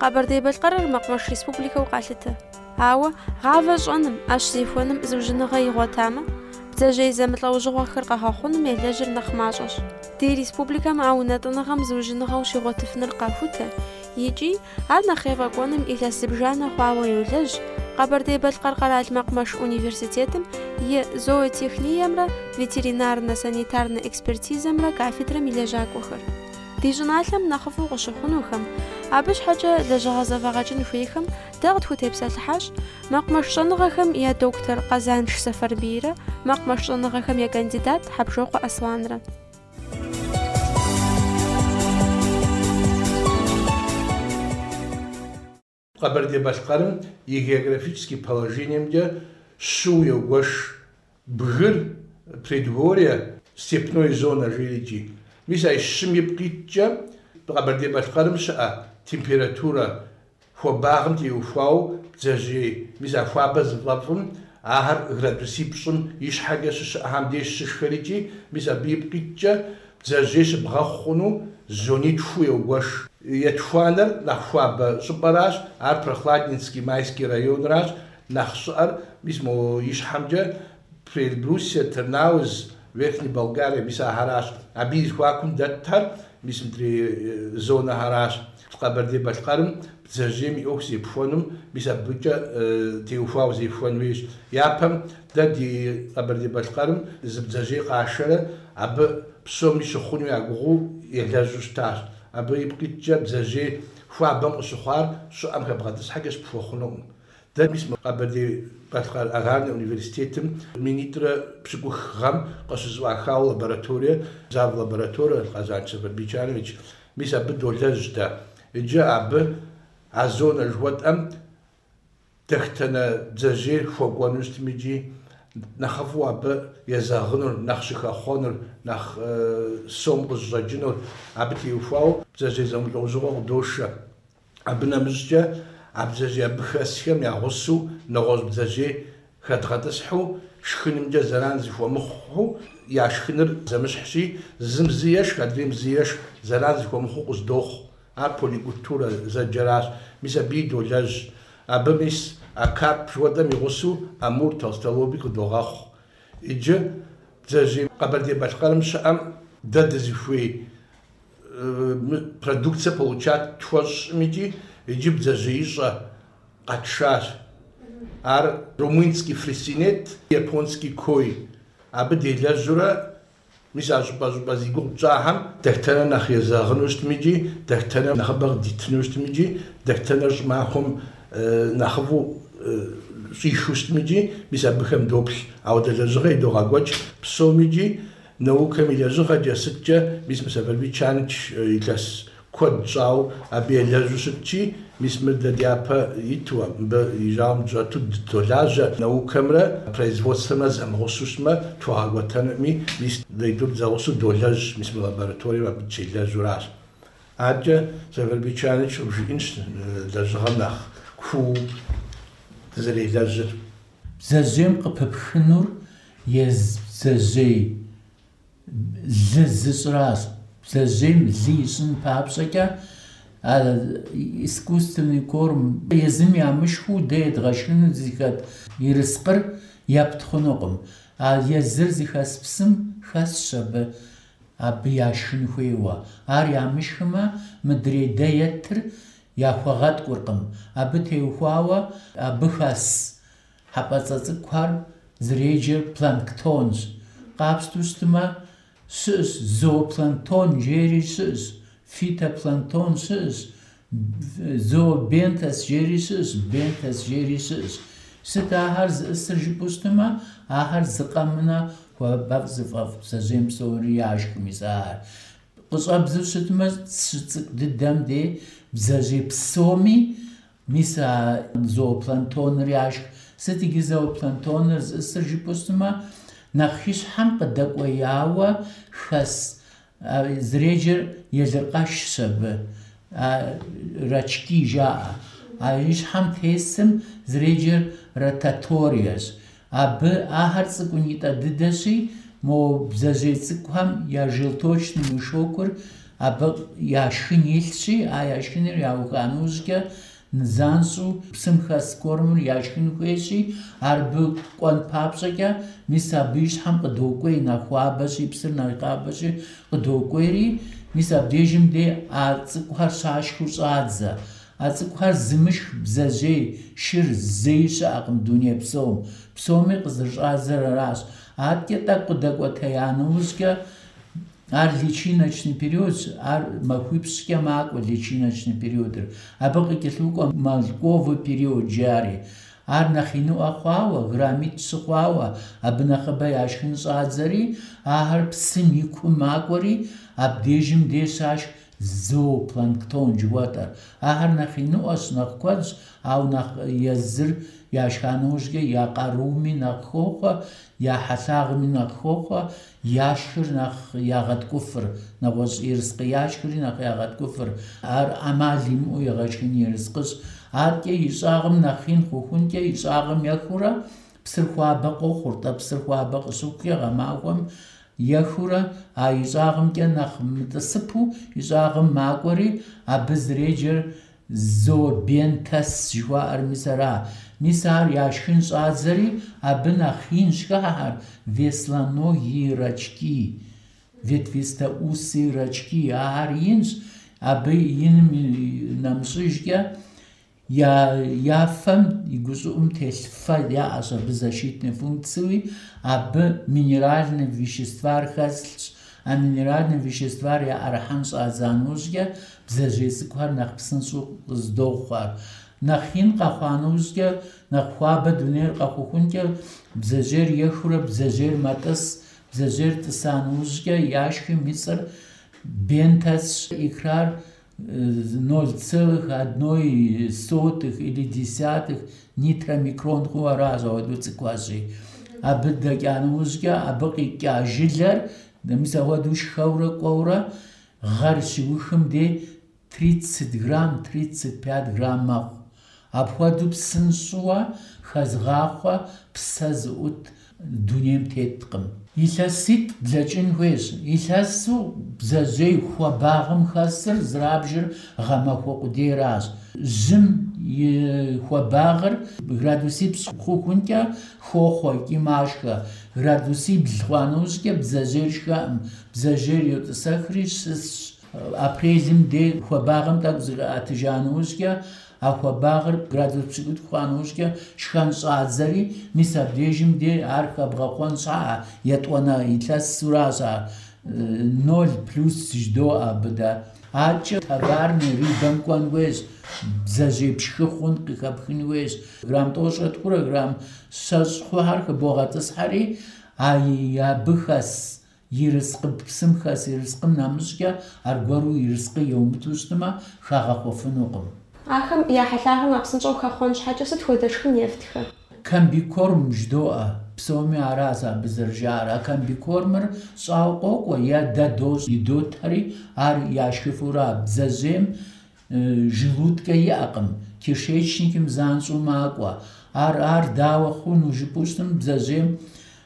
Къэбэрдей-Балъкъэрыр мэкъумэш республикэу къалъытэ. Ауэ гъавэ щӏэным, ӏэщ зехуэным зыужьыныгъэ игъуэтамэ, бдзэжьей зэмылӏэужьыгъуэхэр къэгъэхъуным елэжьыр нэхъ мащӏэщ. Ди республикэм а унэтӏыныгъэм зыужьыныгъэу щигъуэтыфыныр къахутэ икӏи ар нэхъ ефӏэкӏуэным илъэс зыбжанэ хъуауэ йолэжь Къэбэрдей-Балъкъэр къэрал мэкъумэш университетым и Зоотехниемрэ ветеринарнэ-санитарнэ экспертизэмрэ кафедрэм и лэжьакӏуэхэр. Ди щӏыналъэм нэхъыфӏу къыщыхъунухэм, абы щхьэкӏэ лэжьыгъэ зэфӏэгъэкӏын хуейхэм дэ къытхутепсэлъыхьащ мэкъумэш щӏэныгъэхэм я доктор Къэзанш Сэфарбийрэ мэкъумэш щӏэныгъэхэм я кандидат Хьэбжокъуэ Асланрэ. Къэбэрдей-Балъкъэрым и географический положениемкӏэ щыу йогуэш: бгыр, предгорье, степной зонэ жиӏэрикӏи. Мис а ищым ипкъ иткӏэ, Къэбэрдей-Балъкъэрым щыӏэ температурэ хуабагъым теухуау бдзэжьей, мис а хуабэ зыфӏэфӏым ахэр градусипщӏым ищхьэкӏэ щыщыӏэхэм деж щышхэрикӏи, мис абы ипкъ иткӏэ, Бдзэжьей щыбгъэхъу хъуну зонитху йогуэш. Етхуанэр нэхъ хуабэ щӏыпӏэращ, ар Прохладненский, Майский районращ, нэхъ щӏыӏэр мис мо ищхьэмкӏэ Приэльбрусье, Тырнауз, Верхняя Балкария, мис ахэращ. Абы и зэхуакум дэтхэр, мис мыдрей зонэхэращ. Къэбэрдей-Балъкъэрым бдзэжьейм и ӏуэху зепхуэнум, мис абыкӏэ теухуауэ зепхуэн хуейщ. Япэм дэ ди Къэбэрдей-Балъкъэрым зы бдзэжьей къашэрэ абы псоми щыхъуну я гугъэу елэжьу щытащ. Абы ипкъ иткӏэ бдзэжьей хуабэм къыщыхъуар щӏыӏэм хэбгъэтӏысхьэкӏэ щыпхуэхъунукъым. Дэ мис Къэбэрдей-Балъкъэр аграрнэ университетым минитӏрэ пщыкӏух гъэм къыщызэӏуахауэ лабораторие, зав. лабораторие Къэзанш Сэфарбий Чанович, Мис абы долэжь дэ. Иджы абы а зонэ жыхуэтӏэм дэхтэнэ бдзэжьей хуэкӏуэну щытми икӏи нэхъыфӏу абы езэгъынур, нэхъ щыхэхъуэнур, нэхъ сом къызыщӏэкӏынур абы теухуауэ бдзэжьей зэмылӏэужьыгъуэ къыдошэ. Абы нэмыщӏкӏэ а бдзэжьей абы хэсхэм я гъусэу нэгъуэщӏ бдзэжьей хэдгъэтӏысхьу шхынымкӏэ зэран зыхуэмыхъуу, я шхыныр зэмыщхьщи, зым зы ешх, адрейм зы ешх зэран зыхуэмыхъуу къыздохъу. Ар поликультурэ зэджэращ. Мис абыи долэжь. Абы мис а карп хуэдэм и гъусэу амур, толстолобик къыдогъэхъу. Иджы бдзэжьей Къэбэрдей-Балъкъэрым щыӏэм дэ дызыхуей продукция получат тхуэщӏым икӏи иджы бдзэжьеищӏэ къэтшащ. Ар румынский фресинет, японский кой. Абы делэжьурэ, мис а щӏыпӏэ-щӏыпӏэ зи гугъу пщӏахэм дэхтэнэ нэхъ езэгъыну щытми икӏи дэхтэнэ нэхъыбэ къыдитыну щытми икӏи дэхтэнэр щӏымахуэм нэхъыфӏу щӏихыу щытми икӏи мис абыхэм доплъ. Ауэдэ лэжьыгъэ идогъэкӏуэкӏ псоми икӏи Наукэм и лэжьыгъэкӏэ сыткӏэ мис мы Сэфарбий Чаныч илъэс куэд щӏауэ абы елэжьу щытчи, мис мыр дэ дяпэ иту, мыбы и жьауэм дыщӏэту дыдолажьэ, наукэмрэ производствэмрэ зэмыгъусу щытмэ, тхуэгъэкӏуэтэнуӏыми, мис дэ итӏур дызэгъусэу долэжь, мис мы лабораторием абы дыщелэжьуращ. Аркӏэ Сэфарбий Чаныч къыбжиӏэнщ лэжьыгъэм нэхъ куу дызэрелэжьыр. Бдзэжьейм къыпыпхынур езы бдзэжьей лы зыщӏращ. Бдзэжьейм лы ищӏын папщӏэкӏэ а искусственный корм езым ямышхыу дэ едгъэшхыну зыхэт ерыскъыр епт хъунукъым. А езыр зыхэс псым хэсщ абы абы яшхын хуейуэ. Ар ямышхымэ, мыдрей дэ етыр Яхуэгъэткӏуркъым. Абы теухуауэ абы хэс хьэпӏэцӏэ цӏыкӏухэр зэреджэр планктонщ. Къапщту щытмэ, щыӏэщ зоопланктон жери щыӏэщ, фитопланктон щыӏэщ, зообентос жери щыӏэщ, бентос жери щыӏэщ. Сыт ахэр зыӏысыр жыпӏэу щытмэ, ахэр зы къэмынэ хуабэфӏ зыфӏэфӏ бдзэжьейм псори яшх мис ахэр. Къыщӏэбдзу щытмэ, щыцӏыкӏу дыдэм де бдзэжьей псоми, мис а зоопланктоныр яшх. Сыт иджы зоопланктоныр зыӏысыр жыпӏэу щытмэ, нэхъ ищхьэм къыдэкӏуеяуэ хэс зэреджэр елыркъэшщ абы, рачки жаӏэ. А ищхьэм тесым зэреджэр ротаториещ. Абы ахэр цӏыкӏунитӏэ дыдэщи, мо бдзэжьей цӏыкӏухэм я желточный мешокыр абы я шхын илъщи, а я шхыныр яуха нэужькӏэ нызанщӏу псым хэс кормыр яшхын хуейщи, ар абы кӏуэн папщӏэкӏэ, мис абы и щхьэм къыдокӏуей нэхъ хуабэщи, псыр нэхъ хуабэщи къыдокӏуейри, мис абдежым дей а цӏыкӏухэр щашхыу щӏадзэ. А цӏыкӏухэр зымышх бдзэжьей шыр зэи щыӏэкъым дуней псом. Псоми къызэрыщӏадзэр аращ. Аткӏэ тӏэкӏу къыдэкӏуэтея нэужькӏэ ар личиночный периодщ, ар махуипщӏкӏэ макӏуэ личиночный периодыр. Абы къыкӏэлъыкӏуэ мальковый период жари. Ар нэхъ иныӏуэ хъуауэ, граммитӏ-щы хъуауэ, абы нэхъыбэ яшхын щӏадзэри, ахэр псым и кум макӏуэри, абдежым де щашх Зоопланктон жыхуэтӏэр. Ахэр нэхъ иныӏуэщ, нэхъ куэдщ, ауэ нэхъ езыр яшха нэужькӏэ я къарууми нэхъ хохъуэ, я хьэлъагъми нэхъ хохъуэ, яшхыр нэхъ ягъэткӏуфыр, нэгъуэщӏ ерыскъы яшхри нэхъ ягъэткӏуфыр. Ар ӏэмал имыӏэу егъэшхын ерыскъыщ. Аткӏэ и щӏагъым нэхъ ин хъухункӏэ, и щӏагъым ехыурэ, псыр хуабэ къохъур-тӏэ, псыр хуабэ къыщыхъукӏэ, гъэмахуэм Ехыурэ а ищӏагъымкӏэ нэхъ мытӏысыпу ищӏагъым макӏуэри, абы зэреджэр зообентос жыхуаӏэр мис ара. Мис ар яшхын щӏадзэри, абы нэхъ инщ хыхьэхэр, веслоногие рачки, ветвистоусые рачки, ахэр инщ, абы иным нэмыщӏыжкӏэ, Я фэм и гущӏыӏум телъ фэ яӏэщ абы защитнэ функцыуи, абы минеральнэ веществар хэслъщ. А минеральнэ веществар яӏэрыхьэн щӏадза нэужькӏэ, бдзэжьей цӏыкӏухэр нэхъ псынщӏэу къыздохъуэр. Нэхъ ин къэхъуа нэужькӏэ, нэхъ хуабэ дунейр къэхъухункӏэ, бдзэжьейр ехыурэ бдзэжьейр мэтӏыс. Бдзэжьейр тӏыса нэужькӏэ, яшхым и цӏэр бентосщ, икрар 0,01 или десятых нитромикрон хъууэ аращ ауэдэу цӏыкӏуащи. Абы дэкӏа нэужькӏэ абы къикӏа жылэр мис ауэдэу шхэурэ кӏуэурэ гъэр щиухым де 30 грамм, 35 грамм мэхъу. Апхуэдэу псынщӏэу хэзгъахъуэ псэ зыӏут дунейм теткъым. Илъэситӏ блэкӏын хуейщ. Илъэсу бдзэжьей хуабагъым хэсыр зэрабжыр гъэмахуэ къудейращ. Жьым и хуабагъыр градусипщӏ хъухункӏэ хохъуэ икӏи машхэ. Градусибл хъуа нэужькӏэ бдзэжьейр шхэӏым, бдзэжьейр йотӏысэхри щысщ. Апрелым де хуабагъэм тӏэкӏу зыӏэтыжа нэужькӏэ, а хуабагъыр градус пщыкӏутӏ хъуа нэужькӏэ шхэн щӏадзэри, мис абдежым де ар хэбгъэхъуэн щхьа етӏуанэ илъэсуращ ар, ноль плюс жыдоӏэ абы дэ. Аткӏэ товарнэ рыбэм кӏуэн хуейщ, бдзэжьей пшхы хъун къыхэпхын хуейщ, грамм тӏощӏрэ тхурэ грамм щэщӏ хъухэр хыбогъэтӏысхьэри, а абы хэс Ерыскъы псым хэс ерыскъым нэмыщӏкӏэ аргуэру ерыскъы еумыту щытмэ, хагъэхъуэфынукъым. Ахэм я хьэлъагъым нэхъ псынщӏэу хэхъуэн щхьэкӏэ сыт хуэдэ шхын ефтхэ? Комбикорм жыдоӏэ. Псоми аращ абы зэрыжаӏэр. А комбикормыр щӏауэ къокӏуэ е дэ дощӏ идотэри, ар яшхыфурэ а бдзэжьейм желудкэ иӏэкъым, кишечникым занщӏэу макӏуэ. Ар ар дауэ хъуну жыпӏэу щытым, бдзэжьейм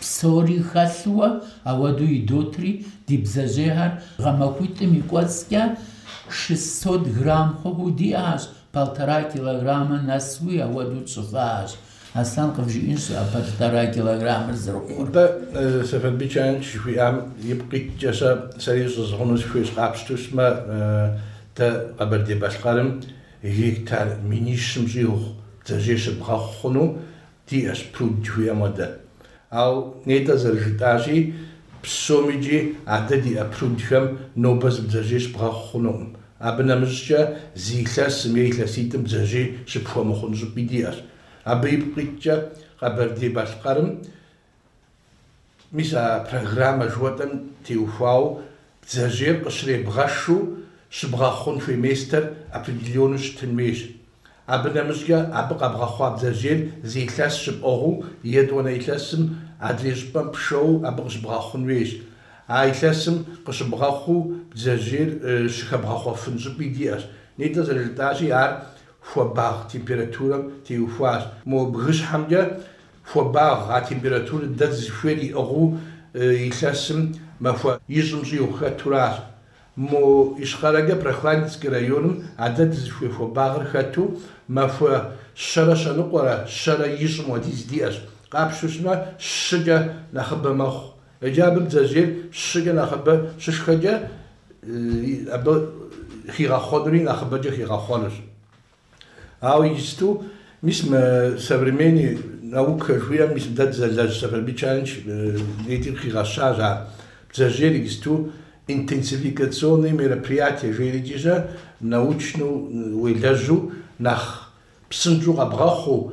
Псори хэлъууэ ауэдэу идотри, ди бдзэжьейхэр гъэмахуитӏым и кӏуэцӏкӏэ шестьсот грамм хъуху диӏащ, полтора килограммэ нэсуи ауэдэу тщӏыфащ. Аслъэн къывжиӏэнщ а полтора килограммыр зэрыхъур. Дэ, Сэфарбий Чаныч жыхуиӏам ипкъ иткӏэ сэ, сэри щӏызгъуну сыхуейщ, къапщтэу щымэ, дэ Къэбэрдей-Балъкъэрым гектар минищым щӏигъу бдзэжьей щыбгъэхъу хъуну, Диӏэщ пруд жыхуиӏэм хуэдэ. Ау нетӏэ зэрыжытӏащи, псом икӏи а дэ диӏэ прудхэм нобэ зы бдзэжьей щыбгъэхъу хъунукъым. Абы нэмыщӏкӏэ зы илъэсым е илъэситӏым бдзэжьей щыпхуэмыхъун щӏыпӏи диӏэщ. Абы ипкъ иткӏэ Къэбэрдей-Балъкъэрым Мис а программэ жыхуэтӏэм теухуауэ бдзэжьейр къыщребгъэшу щыбгъэхъун хуей местэр определеннэу щытын хуейщ. Абы нэмыщӏкӏэ абы къэбгъэхъуа бдзэжьейр зы илъэс щыпӏыгъыу етӏуанэ илъэсым адрей щӏыпӏэм пшэуэ абы къыщыбгъэхъун хуейщ. А илъэсым къыщыбгъэхъуу бдзэжьейр щыхэбгъэхъуэфын щӏыпӏи диӏэщ. Нетӏэ зэрыжытӏащи, ар хуабагъ температурэм теухуащ. Мо бгыщхьэмкӏэ Хуабагъ, а температурэ дэ дызыхуейр иӏыгъыу илъэсым махуэ ищӏым щӏигъу хэтуращ. Мо ищхъэрэкӏэ Прохладненский районым а дэ дызыхуей хуабагъыр хэту махуэ щэрэ щэныкъуэрэ щэрэ ищӏым хуэдиз диӏэщ. Къапщтэу щымэ, щыкӏэ нэхъыбэ мэхъу. Иджы абы бдзэжьейр щыкӏэ нэхъыбэ щышхэкӏэ, абы хигъэхъуэнури нэхъыбэкӏэ хигъэхъуэнущ. Ауэ иджысту, мис мы современный наукэ жыхуиӏэм, мис дэ дызэлэжь Сэфарбий Чаныч нетӏэ хигъэщащ ар. Бдзэжьейр иджысту интенсификационные мероприятия жеӏэри икӏи научнэу уелэжьу, нэхъ псынщӏэу къэбгъэхъуу,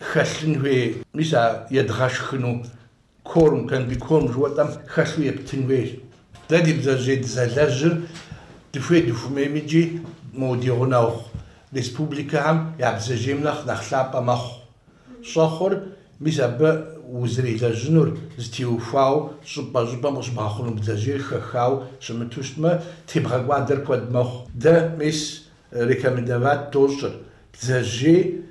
хэлъын хуей, мис а едгъэшхыну корм, комбикорм жыхуэтӏэм хэлъу ептын хуейщ. Дэ ди бдзэжьей дызэлэжьыр дыхуей дыхуэмейми икӏи мо ди гъунэгъу республикэхэм я бдзэжьейм нэхъ нэхъ лъапӏэ мэхъу. Щӏэхъур, мис абы узэрелэжьынур зытеухуауэ щӏыпӏэ-щӏыпӏэм къыщыбгъэхъуну бдзэжьейр хэхауэ щымыту щытмэ, тебгъэкӏуадэр куэд мэхъу. Дэ мис рекомендовать дощӏыр бдзэжьей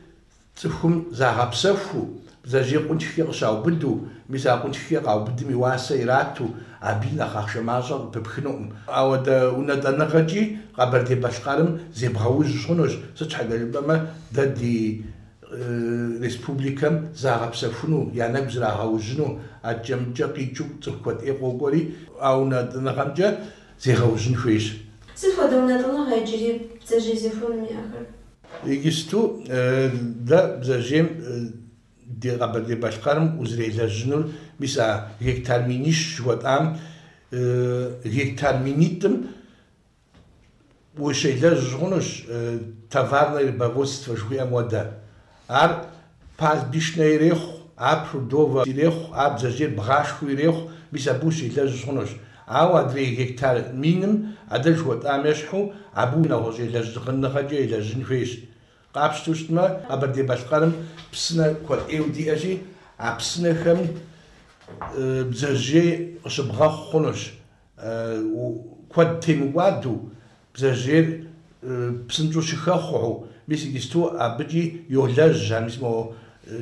Цӏыхум загъэпсэхуу, бдзэжьей къунтхкӏэ къыщаубыду, мис а къунтхкӏэ къаубыдым и уасэ ирату, абыи нэхъ ахъшэ мащӏэ къыпыпхынукъым. Ауэдэ унэтӏыныгъэкӏи Къэбэрдей-Балъкъэрым зебгъэужь хъунущ, сыт щхьэкӏэ жыпӏэмэ дэ ди республикэм загъэпсэхуну, я нэгу зрагъэужьыну, адэкӏэ-мыдэкӏэ къикӏыу цӏыху куэд ӏей къокӏуэри, а унэтӏыныгъэмкӏэ зегъэужьын хуейщ. Сыт хуэдэ унэтӏыныгъэ иджыри бдзэжьей зехуэным иӏэхэр? Иджысту дэ бдзэжьейм ди Къэбэрдей-Балъкъэрым узрелэжьынур, мис а гектар минищ жыхуэтӏам гектар минитӏым ущелэжь хъунущ, товарное рыбоводство жыхуиӏэм хуэдэ. Ар пастбищнэ ирехъу, а прудовэ ирехъу, а бдзэжьейр бгъашхэу ирехъу, мис абы ущелэжь хъунущ. Ауэ адрей гектар миным а дэ жыхуэтӏам ещхьу, абы нэгъуэщӏ елэжьыныгъэкӏэ елэжьын хуейщ. Къапщтэу щытмэ, Къэбэрдей-Балъкъэрым псынэ куэд ӏейуэ диӏэщи, а псынэхэм бдзэжьей къыщыбгъэхъу хъунущ. куэд темыкӏуадэу, бдзэжьейр псынщӏэу щыхэхъуэу, мис иджысту абыкӏи йолэжь, а мис мо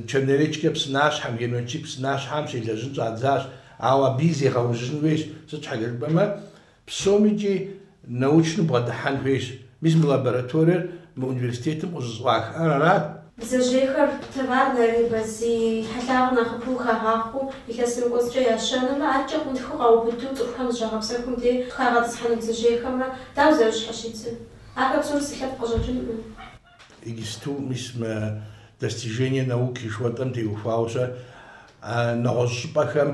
Черноречкэ псынащхьэм, Геночи псынащхьэм щелэжьын щӏадзащ, ауэ абыи зегъэужьын хуейщ, сыт щхьэкӏэ жыпӏэмэ, псоми икӏи научну бгъэдыхьэн хуейщ, Мис мы лабораториер мы университетым къыщӏызэӏуахар арат? Бдзэжьейхэр товарнэ рыбэ зи хьэлъагъыр нэхъыбэу хагъахъуэу илъэсым и кӏуэцӏкӏэ ящэнумрэ, адэкӏэ къунтхыу къаубыду цӏыхухэм зыщагъэпсэхум де хагъэтӏысхьэну бдзэжьейхэмрэ дауэ зэрыщхьэщыкӏыр? Ахэр псом зы лъэпкъ къыщӏэкӏынкъым. Иджысту мис мы достижения науки жыхуэтӏэм теухуауэ-щэ, а нэгъуэщӏ щӏыпӏэхэм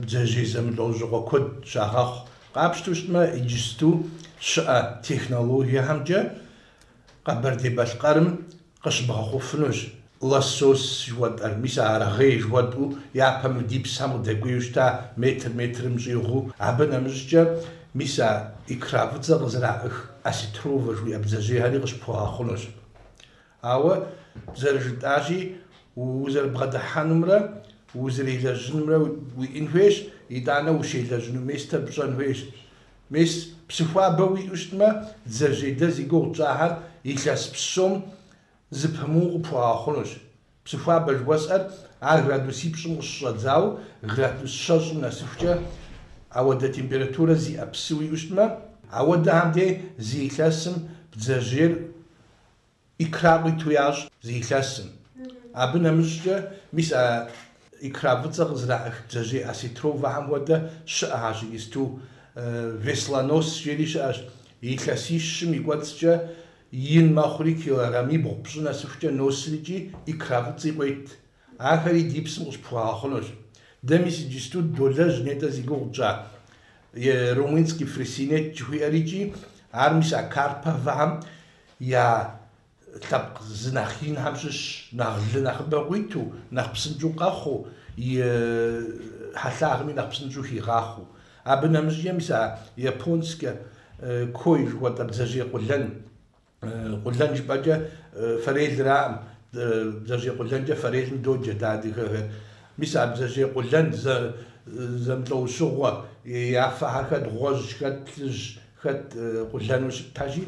бдзэжьей зэмылӏэужьыгъуэ куэд щагъэхъу, Къапщтэу щытмэ, иджысту щыӏэ технологиехэмкӏэ Къэбэрдей-Балъкъэрым къыщыбгъэхъуфынущ лосось жыхуэтӏэр. Мис а аргъей жыхуэтӏэу япэ мы ди псыхэм къыдэкӏуеу щыта, метр метрым щӏигъуу. Абы нэмыщӏкӏэ мис а икра фӏыцӏэ къызэраӏых осетровэ жыхуиӏэ бдзэжьейхэри къыщыпхуэгъэхъунущ. Ауэ зэрыжытӏащи, узэрыбгъэдыхьэнумрэ узэрелэжьынумрэ уиӏэн хуейщ, итӏанэ ущелэжьыну местэ пщӏэн хуейщ. Мис, псы хуабэ уиӏэу щытмэ, бдзэжьей дэ зи гугъу тщӏахэр илъэс псом зыпымыу къыпхуэгъэхъунущ. Псы хуабэ жыхуэсӏэр ар градусипщӏым къыщыщӏэдзауэ градус щэщӏым нэсыхукӏэ ауэдэ температурэ зиӏэ псы уиӏэу щытмэ, ауэдэхэм дей зы илъэсым бдзэжьейр Икра къуиту ящӏ зы илъэсым. Абы нэмыщӏкӏэ, мис а икра фӏыцӏэ къызыраӏых бдзэжьей осетровэхэм хуэдэ щыӏэхэщ иджысту, Веслонос жери щыӏэщ. Илъэсищым и кӏуэцӏкӏэ ин мэхъури, килограммибгъу пщӏы нэсыхукӏэ носрикӏи икра фӏыцӏи къуейт. Ахэри ди псым къыщпхуэгъэхъунущ. Дэ мис иджысту долэжь нетӏэ зи гугъу тщӏа Румынский фрисинет жыхуиӏэрикӏи, ар мис а Карповэхэм я лъэпкъ зы нэхъ инхэм щыщщ, нэхъ лы нэхъыбэ къуиту, нэхъ псынщӏэу къэхъуу, и хьэлъагъми нэхъ псынщӏэу хигъахъуэу. Абы нэмыщӏкӏэ мис а японскэ кой жыхуэтӏэ бдзэжьей къулэн. Къулэн жыпӏэкӏэ фэрелраӏым. Бдзэжьей къулэнкӏэ фэрелым доджэ дэ адыгэхэр. Мис а бдзэжьей къулэн зэмылӏэужьыгъуэ, я фэхэр хэт гъуэжь, хэт плъыжь, хэт къулэну щытхэщи,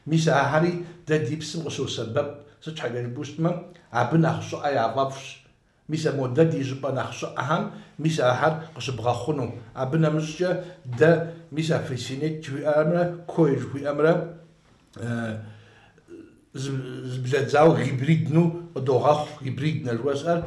мис ахьэри дэ ди псым къыщосэбэп. Сыт щхьэкӏэ жыпӏэу щытмэ, абы нэхъ щӏыӏэ яфӏэфӏщ. Мис а модэ ди щӏыпӏэ нэхъ щӏыӏэхэм, мис ахэр къыщыбгъэхъуну. Абы нэмыщӏкӏэ дэ мис а фрисинет жыхуиӏэмрэ кой жыхуиӏэмрэ зыблэдзауэ гибридну къыдогъэхъу, гибриднэ жыхуэсӏэр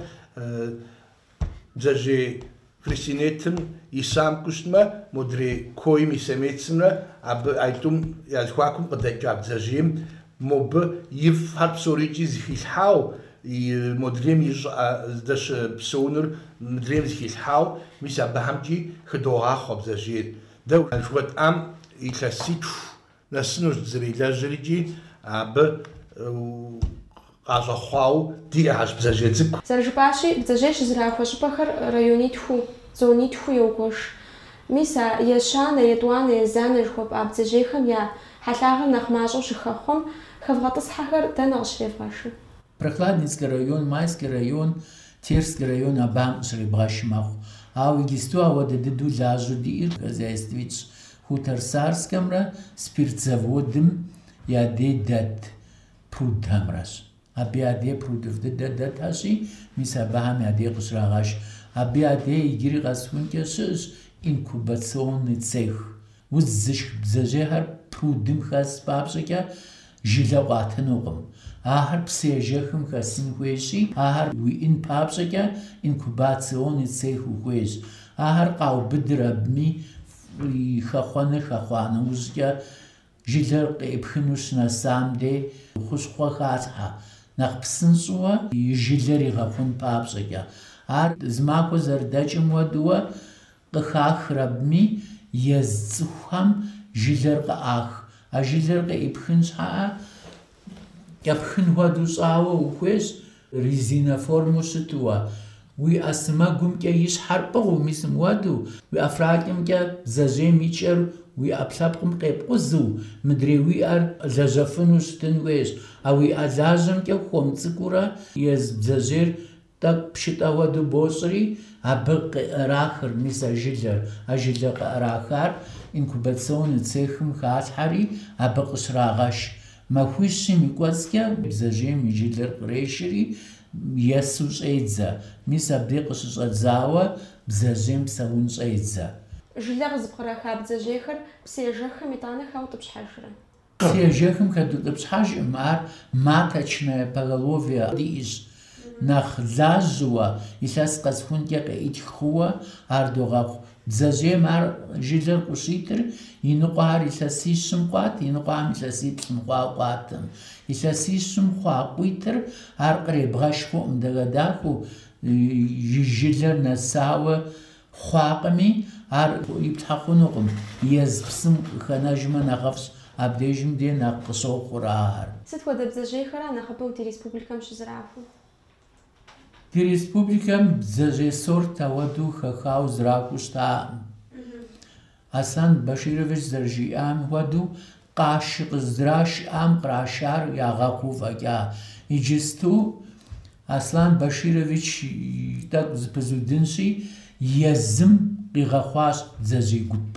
бдзэжьей Фрисинетым и самку щытмэ, модрей койм и самецымрэ абы а итӏум я зэхуакум къыдэкӏа бдзэжьейм мобы и фӏхэр псорикӏи зыхилъхьау, модрейм и щӏыӏэ здэщыпсэунур мыдрейм зыхилъхьау, мис абыхэмкӏи хыдогъахъуэ бдзэжьейр. Дэ жыхуэтӏам илъэситху Нэсынущ дызэрилэжьрикӏи абы къащӏэхъуау диӏэхьэщ бдзэжьей цӏыкӏу. Зэрыжыпӏащи, бдзэжьей щызэрахуэ щӏыпӏэхэр районитхуу, зонитхуу йогуэш. Мис а ещанэ, етӏуанэ, езанэ жыхуэпӏа бдзэжьейхэм я хьэлъагъыр нэхъ мащӏэу щыхэхъуэм хэвгъэтӏысхьэхэр дэнэ къыщревгъэшыр? Прохладницкэ район, Майскэ район, Терскэ район абыхэм къыщребгъэш мэхъу. Ауэ иджысту ауэдэ дыдэу лажьэу диӏэр хозяйствитӏщ Хуторсарскэмрэ спирт заводым я дей дэт прудхэмрэщ. Абы я дей прудыфӏ дыдэ дэтхэщи, мис абыхэм я дей къыщрагъэш. Абы я дей иджыри къэсыхункӏэ щыӏэщ инкубационный цех. Удз зышх бдзэжьейхэр прудым хэс папщӏэкӏэ, Жылэ къуатынукъым. Ахэр псы ежэхым хэсын хуейщи, ахэр уиӏын папщӏэкӏэ инкубационный цех ухуейщ. Ахэр къаубыдыр абыми и хэхъуэныр хэхъуа нэужькӏэ, жылэр къеӏыпхыну щынэсам де хущхъуэ халъхьэ, нэхъ псынщӏэуэ и жылэр игъэхъун папщӏэкӏэ. Ар зы махуэ зэрыдэкӏым хуэдэуэ Къыхахыр абми ез цӏыхухэм жылэр къыӏах. А жылэр къыӏыпхын щхьэӏэ кӏэпхын хуэдэу щӏауэ ухуейщ, резинэ формэу щытуэ. Уи ӏэ сымэгумкӏэ и щхьэр пӏыгъыу, мис мыуэдэу, уи ӏэфракӏэмкӏэ бдзэжьейм и кӏэр уи ӏэпкълъэпкъым къепкъузу, мыдрей уи ӏэр лэжьэфыну щытын хуейщ. А уи ӏэ лажьэмкӏэ хуэм цӏыкӏуурэ ез бдзэжьейр Тӏэкӏу пшытӏэ хуэдэу бощӏри, абы къыӏэрахыр, мис а жылэр, а жылэ къыӏэрахар инкубационный цехым халъхьэри, абы къыщрагъэш. Махуищым и кӏуэцӏкӏэ бдзэжьейм и жылэр кърешри, есу щӏедзэ, мис абдей къыщыщӏэдзауэ бдзэжьейм псэун щӏедзэ. Жылэ къызыпкъраха бдзэжьейхэр псыежэххэм итӏанэ хаутӏыпщхьэжрэ? Псыежэхым хэдутӏыпщхьэжӏым ар маточное поголовье диӏэщ. Нэхъ лажьэуэ, илъэс къэсхункӏэ къеӏытх хъууэ ар догъэхъу. Бдзэжьейм ар жылэр къыщитыр, и ныкъуэхэр илъэсищым къуат, и ныкъуэхэм илъэсиплӏым хъуауэ къуатым. Илъэсищым хъуа къуитыр ар къребгъэш хъуӏым, дахэдахэу и жылэр нэсауэ, Хъуакъыми, ар иплъхьэ хъунукъым, ез псым хэнэжмэ нэхъыфӏщ, абдежым де нэхъ къыщохъур ахэр. Сыт хуэдэ бдзэжьейхэра нэхъыбэу ди республикэм щызэрахуэр? Ди республикэм бдзэжьей сорт ауэдэу хэхауэ зэрахуэу щытаӏым. Аслан Баширович зэрыжиӏам хуэдэу, къаши къыздра щыӏам кърашар ягъэхъуу фӏэкӏа. Иджысту Аслан Баширович тӏэкӏу зэпызудынщи, езым къигъэхъуащ бдзэжьей гуп.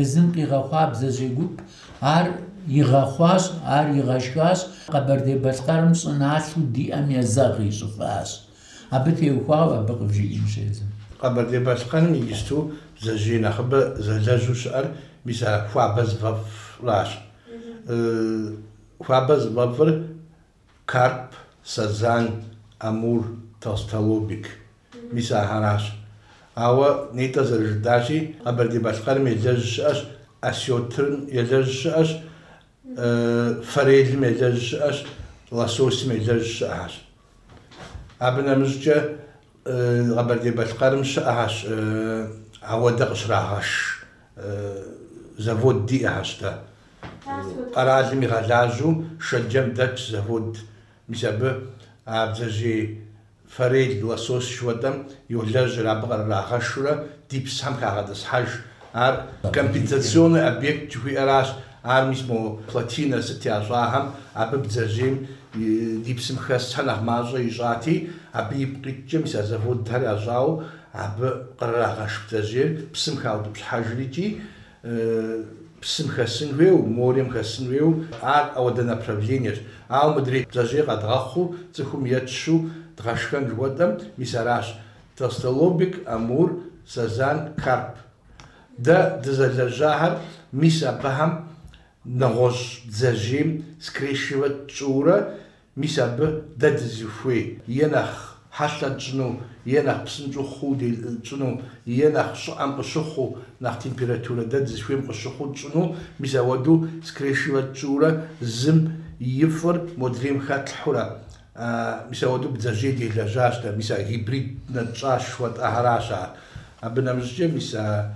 Езым къигъэхъуа бдзэжьей гуп, ар игъэхъуащ, ар игъэшхащ, Къэбэрдей-Балъкъэрым щӏыналъэу диӏэм езэгъ ищӏыфащ. Абы теухуауэ абы къывжиӏэнущ езым. Къэбэрдей-Балъкъэрым иджысту бдзэжьей нэхъыбэ зэлэжьу щыӏэр мис а хуабэ зыфӏэфӏращ. Хуабэ зыфӏэфӏыр карп, сазан, амур, толстолобик, мис ахэращ. Ауэ нетӏэ зэрыжытӏащи, Къэбэрдей-Балъкъэрым елэжь щыӏэщ осётрым, елэжь щыӏэщ форелым елэжь щыӏэщ, лососым елэжь щыӏэщ. Абы нэмыщӏкӏэ Къэбэрдей-Балъкъэрым щыӏэщ ауэдэ къыщрагъэш завод диӏэщ дэ. Къэралым игъэлажьэу Шэджэм дэтщ завод. Мис абы а бдзэжьей Форель, лосось жыхуэтӏэм йолэжьыр, абы кърырагъэшурэ ди псыхэм хагъэтӏысхьэж. Ар компенсационный объект жыхуиӏэращ, ар мис мо плотинэ сыт ящӏахэм, абы бдзэжьейм ди псым хэсхэр нэхъ мащӏэ ищӏати, абы ипкъ икӏкӏэ мис а заводхэр ящӏауэ абы кърырагъэш бдзэжьейр псым хаутӏыпщхьэжыр икӏи, псым хэсын хуейуэ, морием хэсын хуейуэ, ар ауэдэ направлениещ. Ауэ мыдрей бдзэжьей къэдгъэхъуу цӏыхум етщу дгъэшхэн жыхуэтӏэм, мис аращ, толстолобик, амур, сазан, карп. Дэ дызэлэжьахэр мис абыхэм нэгъуэщӏ бдзэжьейм скрещивать тщӏыурэ Мис абы дэ дызыхуей е нэхъ хьэлъэ тщӏыну, е нэхъ псынщӏэу хъууэ дэ тщӏыну, е нэхъ щӏыӏэм къыщыхъуу, нэхъ температурэ дэ дызыхуейм къыщыхъуу тщӏыну, мис ауэдэу скрешивэ тщӏыурэ зым и фӏыр модрейм хэтлъхьурэ, мис ауэдэу бдзэжьей делэжьащ дэ, мис а гибриднэ тщӏащ жыхуэтӏэхэращ ар. Абы нэмыщӏкӏэ мис а.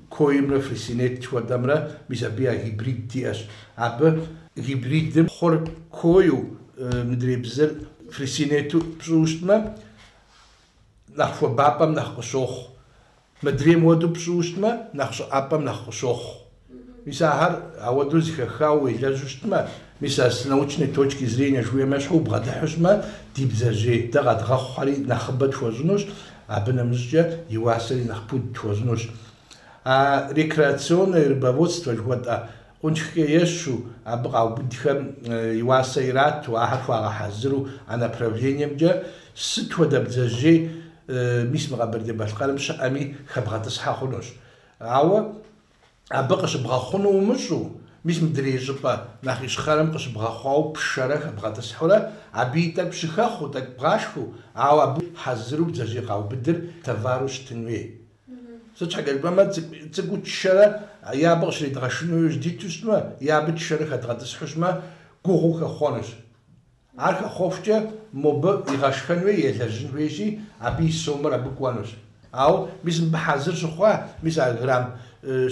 Коимрэ фресинет жыхуэтӏэмрэ мис абы я гибрид диӏэщ. Абы гибридым хъур кою, мыдрей бзыр фресинету пщӏыу щытмэ, нэхъ хуабапӏэм нэхъ къыщохъу. Мыдрейм уэду пщӏыу щытмэ, нэхъ щӏыӏэпӏэм нэхъ къыщохъу. Мис ахэр ауэду зыхэхауэ уелэжьу щытмэ, мис а с научной точки зрения жыхуиӏэм ещхьу убгъэдыхьу щытмэ, ди бдзэжьей дэ къэдгъэхъухэри нэхъыбэ тхуэщӏынущ, Абы нэмыщӏкӏэ и уасэри нэхъ пуд тхуэщӏынущ. А рекреационное рыбоводство жыхуэтӏэ къунтхкӏэ ещу, абы къаубыдхэм и уасэ ирату, ахэр хуагъэхьэзыру а направлениемкӏэ сыт хуэдэ бдзэжьей, мис мы Къэбэрдей-Балъкъэрым щыӏэми, хэбгъэтӏысхьэ хъунущ. Ауэ. абы къыщыбгъэхъуну умыщӏу, мис мыдрей щӏыпӏэ нэхъ ищхъэрэм къыщыбгъэхъуауэ пшэрэ хэбгъэтӏысхьурэ, абы и тӏэкӏу щыхэхъуу, тӏэкӏу бгъашхэу, ауэ абы хьэзыру бдзэжьей къаубыдыр товару щытын хуей. Сыт щхьэкӏэ жыпӏэмэ, цӏыкӏуу тшэрэ е абы къыщридгъэшыну яужь диту щытмэ, е абы тшэрэ хэдгъэтӏысхьу щытмэ, гугъуу хэхъуэнущ. Ар хэхъуэхукӏэ мобы игъэшхэн хуей, елэжьын хуейщи, абы и сомыр абы кӏуэнущ. Ауэ, мис мыбы хьэзыр щыхъуа, мис а грамм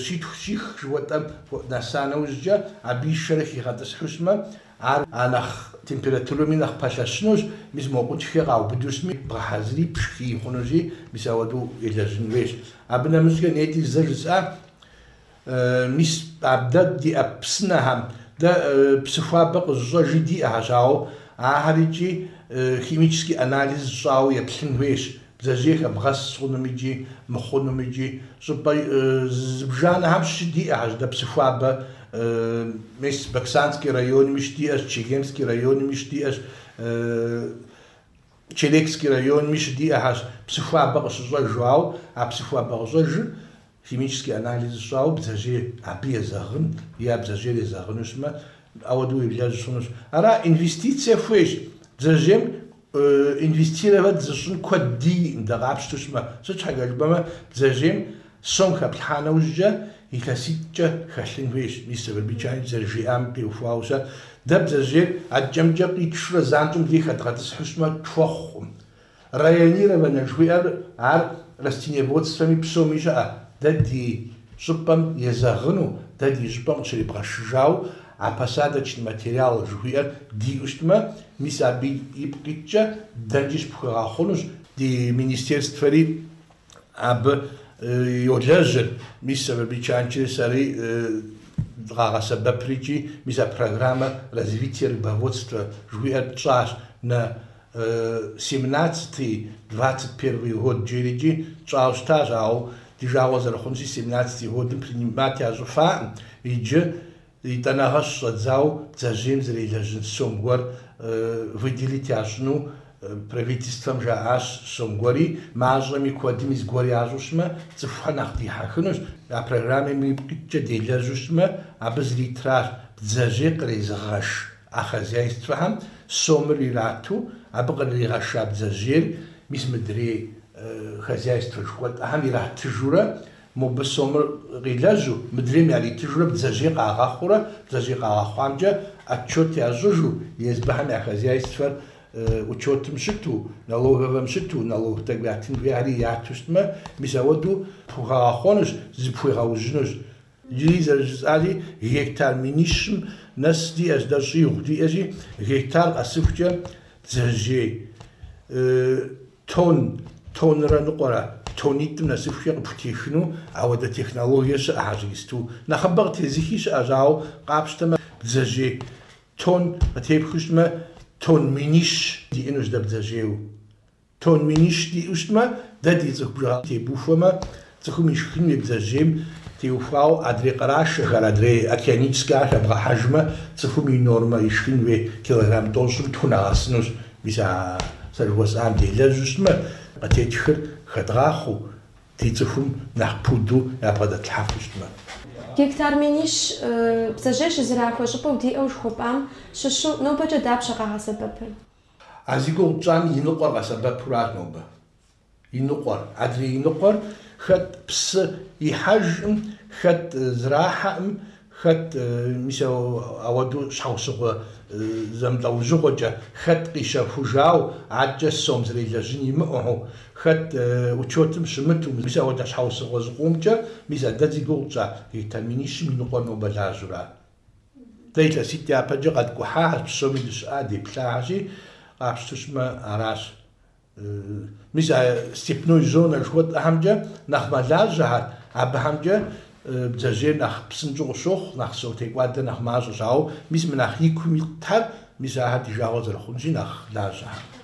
щитху щих жыхуэтӏэм нэса нэужькӏэ, абы ишэрэ хигъэтӏысхьу щымэ, ар а нэхъ температурэми нэхъ пэлъэщынущ, мис мо къунтхкӏэ къаубыду щыми, бгъэхьэзыри, пшхыи хъунущи, мис ауэдэу елэжьын хуейщ. Абы нэмыщӏкӏэ, нетӏи зэ жысӏа? Мис, абдэ диӏэ псынэхэм дэ псыхуабэ къызыщӏэжи диӏэхэщ, ауэ ахэр икӏи химический анализ щӏауэ еплъын хуейщ, бдзэжьей хэбгъэс хъунум икӏи мыхъунум икӏи щӏыпӏэ зыбжанэхэм щыдиӏэхэщ, дэ псыхуабэ мис Баксанский районми щыдиӏэщ, Чегемский районми щыдиӏэщ, Черекский районми щыдиӏэхэщ псыхуабэ къыщыщӏэжу, ауэ а псыхуабэ къыщӏэжыр Химический анализ щӏауэ бдзэжьей абы езэгъын е а бдзэжьейр езэгъыну щымэ, ауэдэу уеблэжь щӏынущ. Ара инвестицие хуейщ, бдзэжьейм инвестировать зыщӏын куэд диӏэкъым, дэ къапщту щымэ. Сыт щхьэкӏэ жыпӏэмэ, бдзэжьейм сом хэплъхьа нэужькӏэ илъэситӏкӏэ хэлъын хуейщ, мис Сафарбий Чаныч зэрыжиӏам къиухуауэ щыӏэт. Дэ бдзэжьейр адкӏэ-мыдкӏэ къитшурэ занщӏэм дей хэдгъэтӏысхьу щымэ, тхуэхъукъым. Районированнэ жыхуиӏэр ар растениеводствэми псоми щыӏэ, дэ ди щӏыпӏэм езэгъыну, дэ ди щӏыпӏэм къыщрибгъэшыжауэ а посадочный материал жыхуиӏэр диӏэу щытмэ, мис абы ипкъ иткӏэ дэнкӏи щыпхуэгъэхъунущ, ди министерствэри абы йолэжьыр, мис Сафарбий Чанычри сэри дыкъагъэсэбэпри икӏи, мис а программэ развития рыбоводства жыхуиӏэр тщӏащ, на семнадцатый, двадцать первый год жери икӏи тщӏауэ щытащ, ауэ ди жагъуэ зэрыхъунщи, семнадцатый годым принимать ящӏыфаӏым, иджы етӏанэгъэ щыщӏэдзауэ бдзэжьейм зэрелэжьын сом гуэр выделить ящӏыну правительствэм жаӏащ, сом гуэри мащӏэми, куэдми зыгуэр ящӏу щымэ, цӏыхухэр нэхъ дихьэхынущ, а программэм ипкъ иткӏэ делэжьу щымэ, абы зритращ бдзэжьей кърезыгъэш. А хозяйствэхэм сомыр ирату абы къырыригъэша бдзэжьейр мис мыдрей хозяйствэ жыхуэтӏэхэм иратыжурэ, мобы сомыр къилэжьу, мыдрейм яритыжурэ бдзэжьей къагъэхъуурэ, бдзэжьей къагъэхъуамкӏэ отчет ящӏыжу, езыхэм я хозяйствэр учетым щыту, налоговэм щыту, налог тӏэкӏу ятын хуейхэри яту щытмэ, мис ауэдэу пхухэгъэхъуэнущ, зыпхуигъэужьынущ. Иджыри зэрыжысӏари гектар минищым нэс диӏэщ, дэ щӏигъу диӏэщи, гектар къэсыхукӏэ бдзэжьей тонн, тоннрэ ныкъуэрэ, тоннитӏым нэсыхукӏэ къыпхутехыну ауэдэ технологие щыӏэхэщ иджыпсту. Нэхъыбэ къытезыхи щыӏэщ, ауэ къапщтэмэ, бдзэжьей тонн къытепхыу щытмэ, тонн минищ диӏэнущ дэ бдзэжьейуэ. Тон минищ диӏэу щытмэ, дэ ди цӏыху бжыгъэм тебухуэмэ, цӏыхум ишхын хуей бдзэжьейм теухуауэ адрей къырашэхэр, адрей океаническэхэр хэбгъэхьэжмэ, цӏыхум и нормэ ишхын хуей килограмм тӏощӏым тху нэгъэсынущ. Мис а сэ жыхуэсӏам делэжьу щытмэ, къытетхыр хэдгъахъуэу, ди цӏыхум нэхъ пуду ябгъэдэтлъхьэфу щытмэ. Гектар минищ бдзэжьей щызэрахуэ щӏыпӏэу диӏэу жыхуэпӏам щыщу нобэкӏэ дапщэ къагъэсэбэпыр? А зи гугъу тщӏам и ныкъуэр къэсэбэпуращ нобэ. И ныкъуэр, адрей и ныкъуэр, хэт псы ихьэжым, хэт зрахьэым, хэт, мис ауэдэу щхьэусыгъуэ зэмылӏэужьыгъуэкӏэ, хэт къищэхужауэ, адэкӏэ сом зрелэжьын имыӏэу, хэт учетым щымыту, мис ауэдэ щхьэусыгъуэ зыкъомкӏэ, мис а дэ зи гугъу тщӏа гектар минищым и ныкъуэр нобэ лажьэу ара. Дэ илъэситӏ япэкӏэ къэткӏухьащ, псоми дыщыӏа, деплъахьэщи, къапщту щытмэ, аращ. Мис а степной зонэ жыхуэтӏэхэмкӏэ нэхъ мэлажьэхэр, абыхэмкӏэ бдзэжьейр нэхъ псынщӏэу къыщохъу, нэхъ сом текӏуадэр нэхъ мащӏэщ, ауэ мис мы нэхъ икум итхэр, мис ахэр ди жагъуэ зэрыхъунщи, нэхъ лажьэхэр.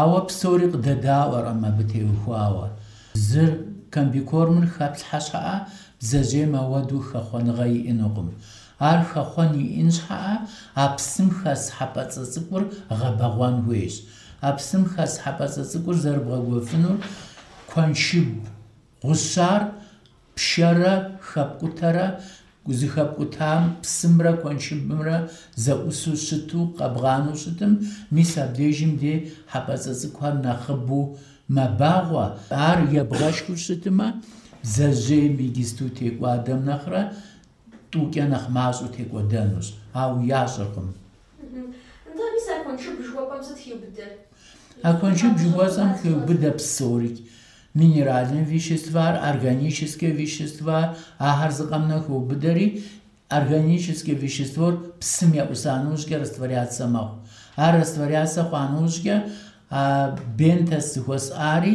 Ауэ псори къыдэдаӏуэркъым абы теухуауэ. Зыр, комбикормыр хэплъхьэ щхьэӏэ, бдзэжьейм ауэдэу хэхъуэныгъэ иӏэнукъым. Ар хэхъуэн иӏэн щхьэӏэ, а псым хэс хьэпӏэцӏэ цӏыкӏур гъэбэгъуэн хуейщ. А псым хэс хьэпӏэцӏэ цӏыкӏур зэрыбгъэгуэфынур куэншыб гъущар пшэрэ хэпкӏутэрэ зыхэпкӏутам псымрэ куэншыбымрэ зэӏусу щыту къэбгъанэу щытым, мис абдежым де хьэпӏэцӏэ цӏыкӏухэр нэхъыбэу мэбагъуэ, ар ебгъэшхыу щытымэ, бдзэжьейм игисту текӏуадэм нэхърэ Тӏукӏэ нэхъ мащӏэу текӏуэдэнущ, ауэ ящӏэркъым. Нтӏэ, мис а куэншыб жыхуэпӏэм сыт хиубыдэр? А куэншыб жыхуэсӏэм хеубыдэ псори, минеральнэ веществар, органическэ веществар, ахэр зыкъэмынэу хеубыдэри, органическэ веществор псым еӏуса нэужькӏэ растворяцэ мэхъу. Ар растворяцэ хъуа нэужькӏэ а бентос жыхуэсӏари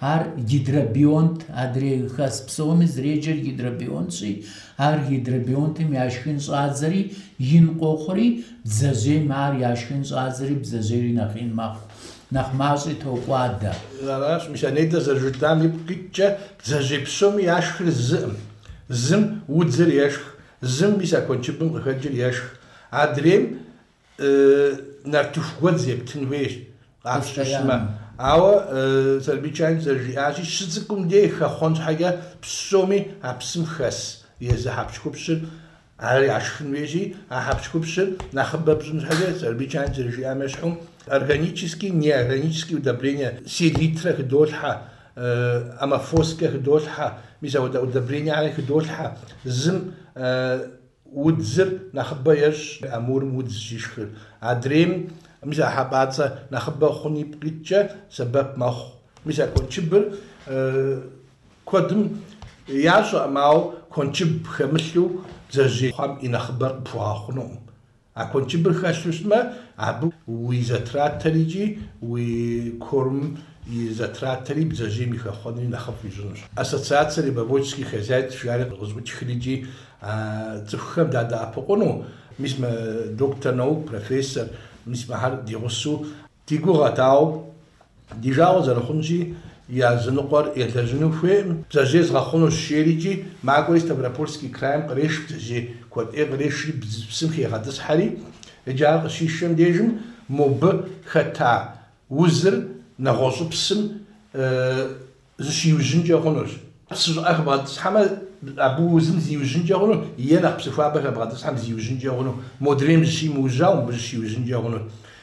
Ар гидробионт, адрей хэс псоми зреджэр гидробионтщи, ар гидробионтым яшхын щӏадзэри ин къохъури, бдзэжьейм ар яшхын щӏадзэри бдзэжьейри нэхъ ин мэхъу, нэхъ мащӏи токӏуадэ. Аращ мис анейдэ зэрыжытам ипкъ иткӏэ, бдзэжьей псоми яшхыр зыӏым. Зым удзыр ешх, зым мис а куэншыбым къыхэкӏыр ешх. Адрейм нартыху гуэдз ептын хуейщ, къапщтэу щытмэ. Ауэ Сэфарбий Чанович зэрыжиӏащи, щыцӏыкӏум деж хэхъуэн щхьэкӏэ псоми а псым хэс езы хьэпщхупщыр ар яшхын хуейщи, а хьэпщхупщыр нэхъыбэ пщӏын щхьэкӏэ, Сэфарбий Чанович зэрыжиӏам ещхьу, органический, неорганический удобрение, селитрэ хыдолъхьэ, аммофоскэ хыдолъхьэ, мис апхуэдэ удобрениехэри хыдолъхьэ, зым Удзыр нэхъыбэ ещӏ амурым удз щишхыр. Адрейм мис а хьэпӏацӏэ нэхъыбэ хъун ипкъ иткӏэ сэбэп мэхъу. Мис а куэншыбыр куэдым ящӏэкъым, ауэ куэншыб хэмылъу бдзэжьейхэм и нэхъыбэр къыпхуэгъэхъунукъым. А куэншыбыр хэлъу щытмэ, абы уи затратэри икӏи уи кормым и затратэри бдзэжьейм и хэхъуэнри нэхъыфӏ ищӏынущ. Ассоциацэ рыбоводческих хозяйств жиӏэри къызэӏутхри икӏи а цӏыхухэм дадэӏэпыкъуну, мис мы доктор наук, профессор, мис мыхэр ди гъусэу, Ди гугъэт, ауэ ди жагъуэ зэрыхъунщи, языныкъуэр елэжьыну хуейкъым. Бдзэжьей згъэхъунущ, жери икӏи макӏуэри Ставропольский крайм къреш бдзэжьей куэд ӏей, кърешри бдз псым хегъэтӏысхьэри, иджы ар къыщишэм дежым мобы хэта узыр нэгъуэщӏ псым зыщиужьынкӏэ хъунущ. Псы щӏыӏэ хэбгъэтӏысхьэмэ, абы узым зиужьынкӏэ хъуну е нэхъ псыхуабэ хэбгъэтӏысхьэм зиужьынкӏэ хъуну, модрейм зыщимыужьауэ мыбы зыщиужьынкӏэ хъуну.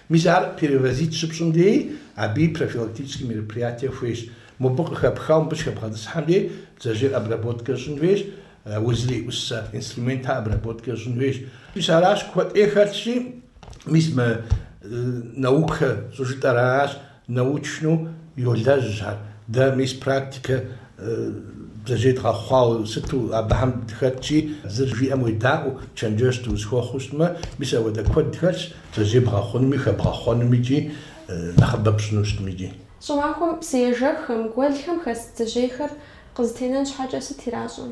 Мис ар перевозить щыпщӏым деи, абыи профилактическэ мероприятие хуейщ. Мобы къыхэпхауэ мыбы щыхэбгъэтӏысхьэм деи, бдзэжьейр обработкэ щӏын хуейщ, узэреӏусэ инструментхэр обработкэ щӏын хуейщ. Мис аращ куэд ӏей хэлъщи, мис мы наукэ щӏыжытӏэр аращ. Научну йолэжь ахэр. Дэ мис практикэ бдзэжьей дгъэхъуауэ сыту абыхэм дыхэтщи, зыр жиӏэм уедаӏуэу, чэнджэщ дыузыхуэхъуу щытмэ, мис ауэдэ куэд хэлъщ, бдзэжьей бгъэхъунуми, хэбгъэхъуэнуми икӏи нэхъыбэ пщӏыну щытми икӏи. Щӏымахуэм псыежэххэм, гуэлхэм хэс бдзэжьейхэр къызэтенэн щхьэкӏэ сыт иращӏэ?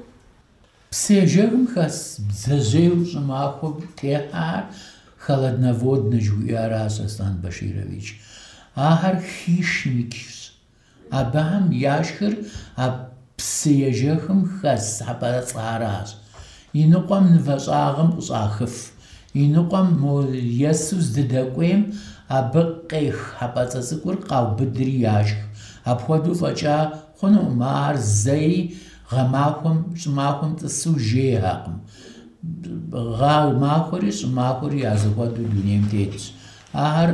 Псыежэхым хэс бдзэжьейуэ щӏымахуэм техьэр холодноводнэ жыхуиӏэращ Аслан Баширович. Ахэр хищникщ. Абыхэм яшхыр а псыежэхым хэс хьэпӏацӏэращ. Иныкъуэм нывэщӏагъым къыщӏахыф. Иныкъуэм мо есу здыдэкӏуейм абы къех хьэпӏацӏэ цӏыкӏур къаубыдри яшх. Апхуэдэу фӏэкӏа Хъунукъым, ар зэи гъэмахуэм, щӏымахуэм тӏысу жейхэкъым. Гъэ махуэри щӏымахуэри я зэхуэдэу дунейм тетщ. Ахэр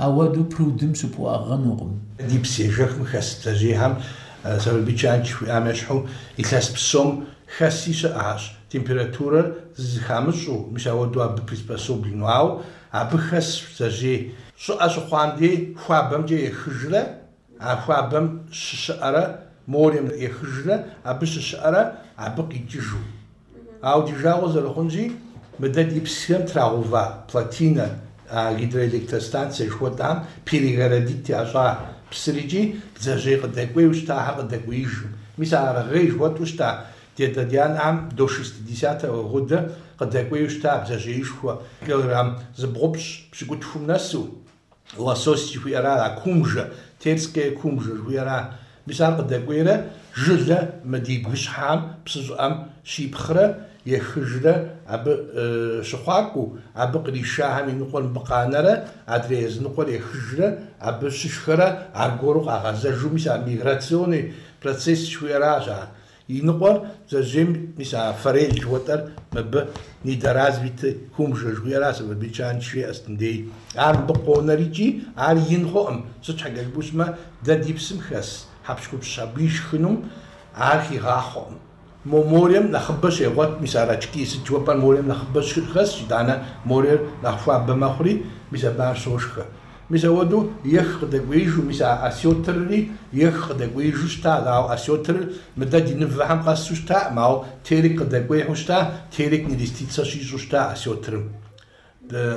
ауэдэу прудым щыпхуэӏыгъынукъым. Ди псыежэхым хэс бдзэжьеихэм Сэфарбий Чаныч жиӏам ещхьу, илъэс псом хэси щыӏэщ, температурэр зыхамыщӏэу, мис ауэдэу абы приспособленнэу, ауэ абы хэс бдзэжьей щӏыӏэ щыхъуам дей хуабэмкӏэ ехыжрэ, А хуабэм щыщыӏэрэ морем ехыжрэ абы щыщыӏэрэ абы къикӏыжу. Ауэ ди жагъуэ зэрыхъунщи, мыдэ ди псыхэм трагъэува плотинэ, а гидроэлектростанцэ жыхуэтӏам перегородить ящӏа псыр икӏи бдзэжьей къыдэкӏуейуэ щытахэр къыдэкӏуеижым. Мис а аргъей жыхуэтӏу щыта Дедодианӏам до шестидесятого года къыдэкӏуейуэ щыта бдзэжьеишхуэ килограмм зыбгъупщӏ пщыкӏутхум нэсу. лосось жыхуиӏэрар, а кумжэ, терская кумжа жыхуиӏэра, мис ар къыдэкӏуейрэ жылэ мы ди бгыщхьэм, псы щӏыӏэм щипхърэ ехыжрэ абы щыхъуакӏуэу, абы къришахэм и ныкъуэр мыбы къанэрэ, адрей языныкъуэр ехыжрэ абы щышхэрэ аргуэру къагъэзэжу, мис ар миграционный процесс жыхуиӏэращ ар. И ныкъуэр бдзэжьейм мис а форель жыхуэтӏэр мыбы недоразвитый кумжэ жыхуиӏэра Сэфарбий Чаныч жиӏа стындей. Ар мыбы къонэр икӏи ар ин хъуӏым, сыт щхьэкӏэ жыпӏэу щытмэ, дэ ди псым хэс хьэпщхупщ абы ишхынум ар хигъахъуэкъым. Мо морем нэхъыбэ щегъуэт, мис а рачки, сыт жыхуэпӏэр морем нэхъыбэ щыхэсщ, итӏанэ морер нэхъ хуабэ мэхъури, мис абы ар щошхэ. Мис ауэдэу ех къыдэкӏуеижу, мис а осётрри ех къыдэкӏуеижу щытащ, ауэ осётрыр мыдэ ди нывэхэм къэсу щытакъым, ауэ терек къыдэкӏуейхэу щыта, терек нереститься щищӏу щыта осётрым.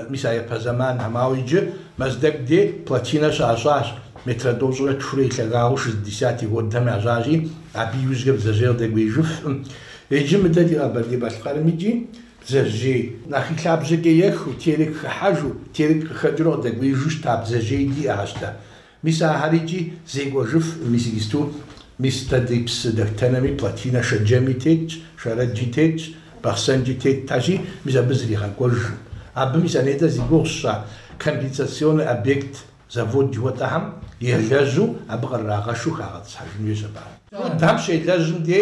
Мис а япэ зэманхэм. Ауэ иджы Мэздэгу де плотинэ щащӏащ, метрэ тӏощӏрэ тхурэ и лъагагъыу шестидесятый годым ящӏащи, абы иужьрэ бдзэжьей къыдэкӏуеижыфкъым. Иджы мыдэ ди Къэбэрдей-Балъкъэрым икӏи Бдзэжьей нэхъ и лъабжьэкӏэ ехыу, терык хыхьэжу, терык къыхэкӏыурэ къыдэкӏуеижу щыта бдзэжьей диӏэхьэщ дэ. Мис ахэр икӏи зекӏуэжыфым, мис иджысту, мис дэ ди псы дэхутэнэми плотинэ Шэджэми тетщ, Шэрэджи тетщ, Бахъсэн икӏи тетащи, мис абы зригъэкӏуэжым. Абы мис а нетӏэ зи гугъу сщӏа компенсационный объект завод жыхуэтӏэхэм елэжьу, абы къырырагъэшу хагъэтӏысхьэжын хуейщ абы. Дэ дапщэ елэжьым де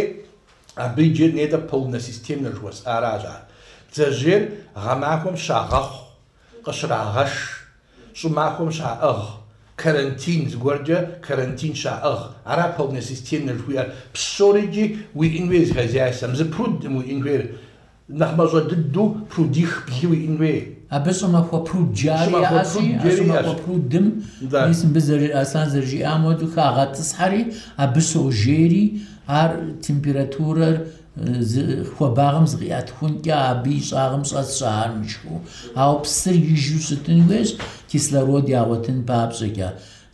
Абы иджы нетӏэ полносистемнэ жыхуэсӏаращ ар. Бдзэжьейр гъэмахуэм щагъэхъу, къыщрагъэш, щӏымахуэм щаӏыгъ, карантин, зыгуэркӏэ карантин щаӏыгъ. Ара полносистемнэ жыхуиӏэр. Псори икӏи уиӏэн хуейр зы хозяйствэм, зы прудым уиӏэн хуейр, Нэхъ мащӏэ дыдэу прудих блы уиӏын хуей. Абы щӏымахуэ пруд жари яӏэщи, щӏымахуэ прудым, мис мыбы зэры- Аслъан зэрыжиӏам хуэдэу, хагъэтӏысхьэри, абы щожейри, ар температурэр э, зы хуабагъым зыкъиӏэтхункӏэ абы и щӏагъым щӏэсщ ар мышхыу. Ауэ псыр ижу щытын хуейщ, кислород ягъуэтын папщӏэкӏэ.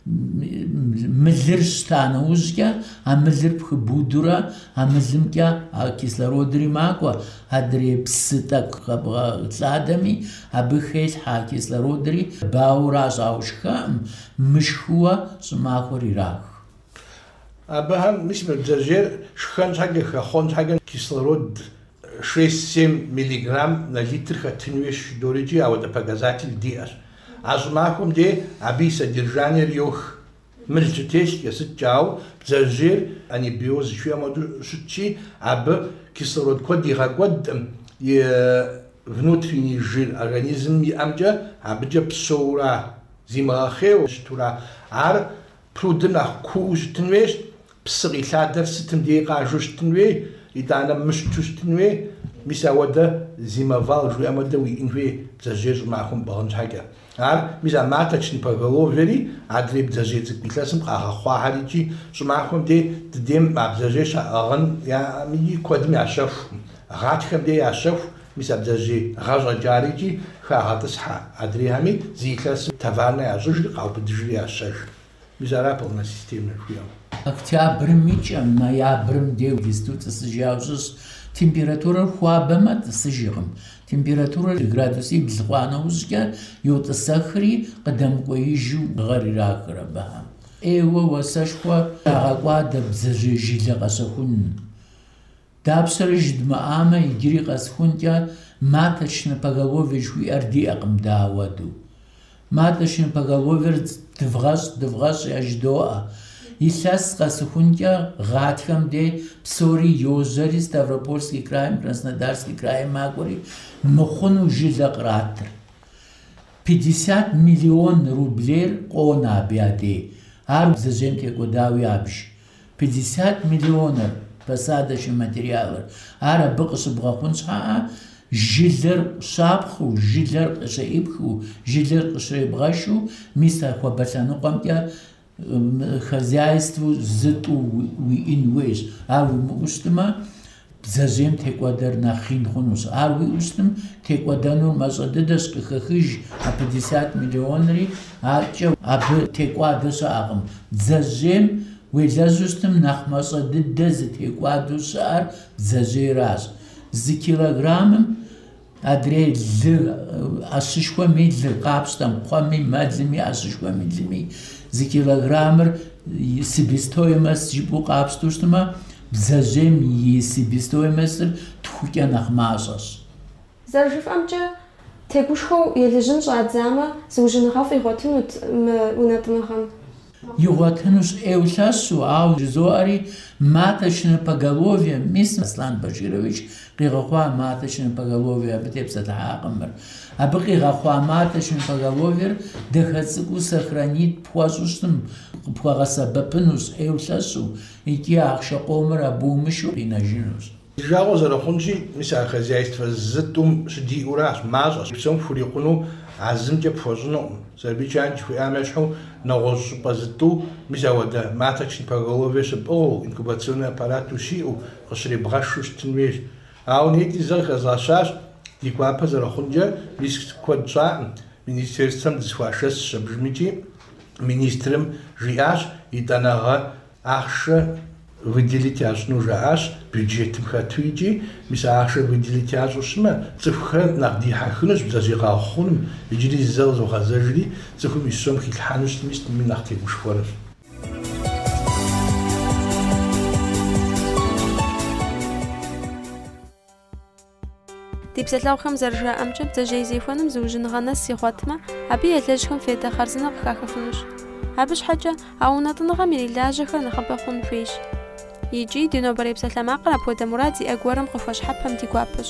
Мылыр щта нэужькӏэ, а мылыр пхыбудурэ, а мылымкӏэ а кислородри макӏуэ, адрей псы тӏэкӏу къэбгъэлъадэми, абы хелъхьэ а кислородри, бауращ, ауэ шхэкъым, мышхыуэ щӏымахуэр ирах. Абыхэм мис мы бдзэжьейр шхэн щхьэкӏэ, хэхъуэн щхьэкӏэ кислород шесть-семь миллиграмм на литр хэтын хуейщ жыдорикӏи, ауэдэ показатель диӏэщ. А щӏымахуэм де абы и содержаниер йох. Мыл щытещкӏэ, сыткӏэ, ауэ бдзэжьейр анабиоз жыхуиӏэм хуэдэу щытщи, абы кислород куэд игъэкӏуэдкъым, и внутренний жир организмым иӏэмкӏэ абыкӏэ псэуура, зимыгъэхъейуэ щытура, ар Прудыр нэхъ куу щытын хуейщ, псы къилъадэр сытым дей къажэу щытын хуей, итӏанэ мыщту щытын хуей, мис ауэдэ зимовал жыхуиӏэм хуэдэ уиӏын хуей бдзэжьей щӏымахуэм пӏыгъын щхьэкӏэ. Ар, мис а маточнэ поголовьери, адрей бдзэжьей цӏыкӏу илъэсым къагъэхъуахэр икӏи щӏымахуэм дей ди дейм а бдзэжьей щаӏыгъын яӏэкъыми, куэдым ящэху, гъатхэм дей ящэху, Мис а бдзэжьей гъащӏэкӏэ ар икӏи хагъэтӏысхьэ адрейхэми зы илъэсым таварнэ ящӏыжри къаубыдыжри ящэж. Мис ара полнэ системэ жыхуиӏэр. Октябрым и кӏэм, ноябрым деу дисту тӏысыжауэ щытщ. Температурэр хуабэмэ, тӏысыжкъым. Температурэр градусибл хъуа нэужькӏэ, йотӏысэхри, къыдэмыкӏуеижу гъэр ирахыр абыхэм. ӏейуэ уасэшхуэ ягъэкӏуадэ бдзэжьей жылэ къэщэхуным. Дапщэрэ жыдмыӏамэ, иджыри къэсхункӏэ Маточнэ поголовье жыхуиӏэр диӏэкъым, дауэду. Маточнэ поголовьер дывгъэщӏ, дывгъэщӏ яжыдоӏэ. Илъэс къэсыхункӏэ гъатхэм де псори йожьэри, Ставропольский крайм, Краснодарский крайм макӏуэри, мыхъуну жылэ къратыр. Пятьдесят миллион рублейр къонэ абы я дей, ар бдзэжьейм текӏуэдауэ ябж. Пятьдесят миллионыр посадочный материалыр. Ар абы къыщыбгъэхъун щхьэӏэ, жылэр щапхъыу, жылэр къыщеӏыпхыу, жылэр къыщребгъэшу, мис а хуабэ лъэныкъуэмкӏэ хозяйствэу зытӏу уиӏын хуейщ. Ар уимыӏэу щытмэ, Бдзэжьейм текӏуэдэр нэхъ ин хъунущ. Ар уиӏэу щытым, текӏуэдэнур мащӏэ дыдэщ, къыхэхыж а пятьдесят миллионри, аткӏэ абы текӏуадэ щыӏэкъым. Бдзэжьейм уелэжьу щытым, нэхъ мащӏэ дыдэ зытекӏуадэу щыӏэр бдзэжьейращ. Зы килограммым Адрей лы ӏэщышхуэм и лыр, къапщтэм, кхъуэми, мэлми, ӏэщышхуэм и лыми зы килограммыр себестоимост жыпӏэу къапщтэу щытмэ, бдзэжьейм и себестоимостыр тхукӏэ нэхъ мащӏэщ. Зэрыжыфӏэмкӏэ, тегушхуэу елыжьын щӏадзамэ, зыужьыныгъэфӏ игъуэтынут мы унэтӏыныгъэм. Игъуэтынущ ӏейуэ лъэщу, ауэ жызоӏэри маточнэ поголовье, мис Аслан Баширович къигъэхъуа маточнэ поголовье абы тепсэлъыхьакъым мыр. Абы къигъэхъуа маточнэ поголовьер дахэ цӏыкӏуу сохранить пхуэщӏу щытым, къыпхуэгъэсэбэпынущ ӏейуэ лъэщу икӏи ахъшэ къомыр абы умышэу къинэжынущ. Жагъуэ зэрыхъунщи, мис а хозяйствэ зытӏум щыдиӏэуращ, мащӏэщ, псом хурикъуну а зымкӏэ пхуэщӏынукъым. Сабий чан жыхуиӏам ещхьу нэгъуэщӏ щӏыпӏэ зытӏу, мис ауэдэ, маточный поголовье щыпӏыгъыу, инкубационный аппарату щиӏэу, къыщребгъэшу щытын хуейщ. Ауэ нетӏи зэ къыхэзгъэщащ, ди гуапэ зэрыхъункӏэ, мис куэд щӏакъым, министерствэм дызэхуашэсщ, абдежым икӏи, министрым жиӏащ, етӏанэгъэ Ахъшэ выделить ящӏыну жаӏащ бюджетым хэту икӏи, мис а ахъшэр выделить ящӏу щытмэ, цӏыхухэр нэхъ дихьэхынущ бдзэжьей къэгъэхъуным, иджыри зэ къызогъэзэжри, цӏыхум и сом хилъхьэну щытми сытми нэхъ тегушхуэнущ. Ди псалъэгъухэм зэрыжаӏэмкӏэ, бдзэжьей зехуэным зыужьыныгъэ нэс игъуэтмэ, абы елэжьхэм фейдэ хъарзынэ къыхахыфынущ. Абы щхьэкӏэ а унэтӏыныгъэм ирилажьэхэр нэхъыбэ хъун хуейщ. Икӏи ди нобэрей псалъэмакъыр апхуэдэ мурад зиӏэ гуэрым къыхуэщхьэпэм ди гуапэщ.